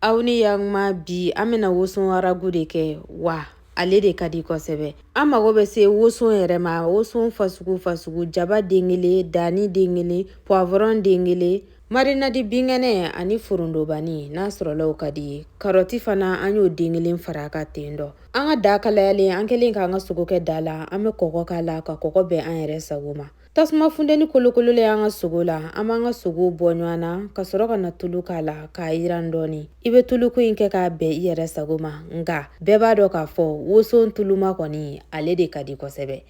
aw ni yakuma bi an bɛna woson aragu de kɛ wa ale de ka di kosɛbɛ an mago bɛ se woson yɛrɛ ma woson fasugu fasugu jaba den kelen dani den kelen puwavɔrɔn den kelen marinadi binkɛnɛ ani forondobani n'a sɔrɔla o ka di i ye karɔti fana an y'o den kelen far'a kan ten dɔ an ka da kalayalen an kɛlen k'an ka sogo kɛ da la an bɛ kɔgɔ k'a la ka kɔgɔ bɛn an yɛrɛ sago ma Tasuma funteni kolokololen y'an ka sogo la an b'an ka sogo bɔ ɲɔgɔn na ka sɔrɔ ka na tulu k'a la k'a yiran dɔɔni i bɛ tuluko in kɛ k'a bɛn i yɛrɛ sago ma nka bɛɛ b'a dɔn k'a fɔ woson tuluma kɔni ale de ka di kosɛbɛ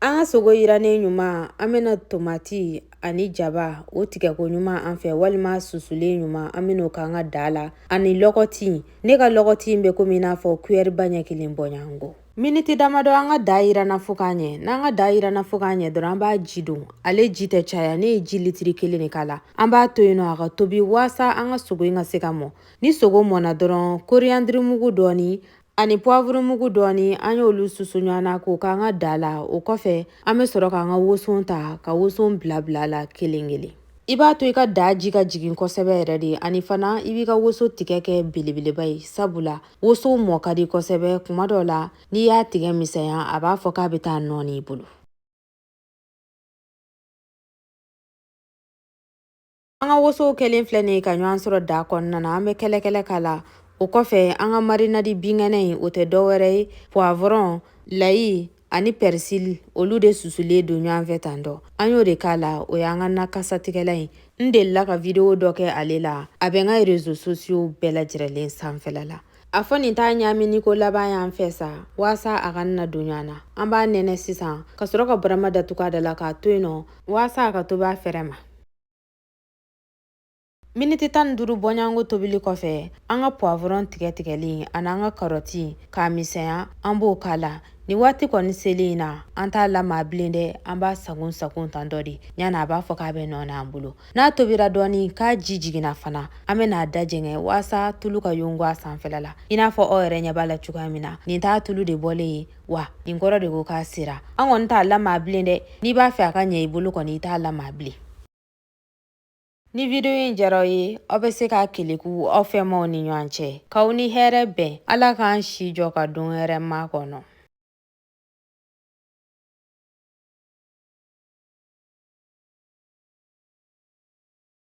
an ka sogo yirannen ɲuman an bɛna tomati ani jaba o tigɛko ɲuman an fɛ walima susulen ɲuman an bɛna o k'an ka da la ani lɔgɔti ne ka lɔgɔti bɛ komi i n'a fɔ kuyɛriba ɲɛ kelen bɔɲɔgɔnko miniti damadɔ an ka da yiranna fo k'a ɲɛ n'an ka da yiranna fo k'a ɲɛ dɔrɔn an b'a ji don ale ji tɛ caya ne ye ji litiri kelen de k'a la an b'a to yen nɔ a ka tobi waasa an ka sogo in ka se ka mɔ ni sogo mɔna dɔrɔn koriyandirimugu dɔɔni ani puwavurumugu dɔɔni an y'olu susu ɲɔgɔn na k'o k'an ka da la o kɔfɛ an bɛ sɔrɔ k'an ka woson ta ka woson bila bil'a la kelen kelen I b'a to i ka da ji ka jigin kosɛbɛ yɛrɛ de ani fana i b'i ka woso tigɛ kɛ belebeleba ye sabula woso mɔ ka di kosɛbɛ kuma dɔ la n'i y'a tigɛ misɛnya a b'a fɔ k'a bɛ taa nɔɔni i bolo an ka woso kɛlen filɛ nin ye ka ɲɔgɔn sɔrɔ da kɔnɔna na an bɛ kɛlɛkɛlɛ k'a la o kɔfɛ an ka marinadi binkɛnɛ in o tɛ dɔwɛrɛ ye puwavɔrɔn layi ani pɛrisili olu de susulen don ɲɔgɔn fɛ tan dɔ an y'o de k'a la o y'an ka na kasatigɛla ye n delila ka videwo dɔ kɛ ale la a bɛ n ka rezo sosiyow bɛɛ lajɛrɛlen sanfɛla la a fɔ nin t'a ɲamini ko laban y'an fɛ sa waasa a ka na don ɲɔgɔn na an b'a nɛnɛ sisan ka sɔrɔ ka barama datugu a da la k'a to yen nɔ waasa a ka tobi a fɛrɛ ma Miniti tan ni duuru bɔɲɔgɔnko tobili kɔfɛ an ka puwavɔrɔn tigɛ tigɛlen ani an ka karɔti k'a misɛnya an b'o k'a la ni waati kɔni selen in na an t'a lamaa bilen dɛ an b'a sagon sagon tan dɔ de ɲana a b'a fɔ k'a bɛ nɔɔni an bolo n'a tobira dɔɔni k'a ji jiginna fana an bɛ n'a da jɛngɛ waasa tulu ka yongo a sanfɛla la i n'a fɔ aw yɛrɛ ɲɛ b'a la cogoya min na nin t'a tulu de bɔlen ye wa nin kɔrɔ de ko k'a sera an kɔni t'a lamaa bilen dɛ n'i b'a fɛ a ka ɲɛ i bolo kɔni i t'a lamaa bilen Ni video in diyara aw ye aw bɛ se k'a keleku aw fɛnmaw ni ɲɔgɔn cɛ k'aw ni hɛrɛ bɛn ala k'an si jɔ ka don hɛrɛma kɔnɔ